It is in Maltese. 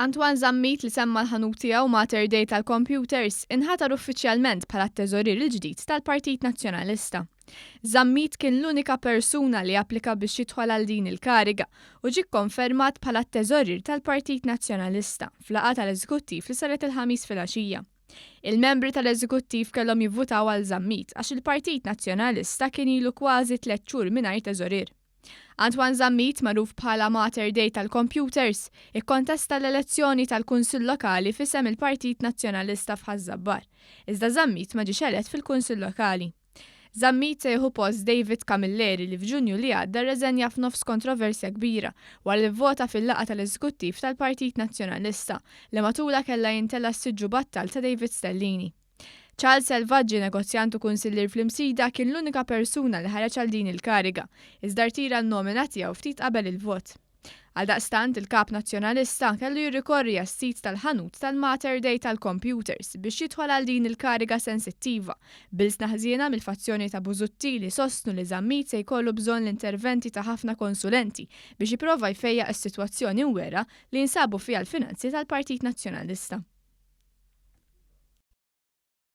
Antoine Zammit li semma l-ħanut tiegħu Mater Dei tal-kompjuters, inħatar uffiċjalment bħala t-teżorier il-ġdid tal-Partit Nazzjonalista. Zammit kien l-unika persuna li applika biex jidħol għal din il-kariga u ġie kkonfermat bħala t-teżorier tal-Partit Nazzjonalista f'laqgħa tal-Eżekuttiv li saret il-Ħamis filgħaxija. Il-membri tal-Eżekuttiv kellhom jivvutaw għal Zammit għax il-Partit Nazzjonalista kien ilu kważi tliet xhur mingħajr teżorier. Antoine Zammit, magħruf bħala Mater Dei tal-Computers, ikkontesta l-elezzjoni tal-Kunsill Lokali f'isem il-Partit Nazzjonalista f'Ħaż-Żabbar, iżda Zammit ma ġiex elett fil-Kunsill Lokali. Zammit se jieħu post David Camilleri li f'Ġunju li għadda rreżenja f'nofs kontroversja kbira wara li vvota fil-laqgħa tal-Eżekuttiv tal-Partit Nazzjonalista li matulha kellha jintela' s-siġġu battal ta' David Stellini. Charles Selvaġġi, negozjant u kunsillier fl-Imsida, kien l-unika persuna li ħareġ għal din il-kariga, iżda rtira n-nomina tiegħu ftit qabel il-vot. Għaldaqstant, il-Kap Nazzjonalista kellu jirrikorri għas-sit tal-ħanut tal-Mater Dei tal-kompjuters biex jidħol għal din il-kariga sensittiva, b'ilsna ħżiena mill-fazzjoni ta' Busuttil li jsostnu li Zammit se jkollu bżonn l-interventi ta' ħafna konsulenti biex jipprova jfejjaq is-sitwazzjoni mwerrgħa li jinsabu fiha l-finanzi tal-Partit Nazzjonalista.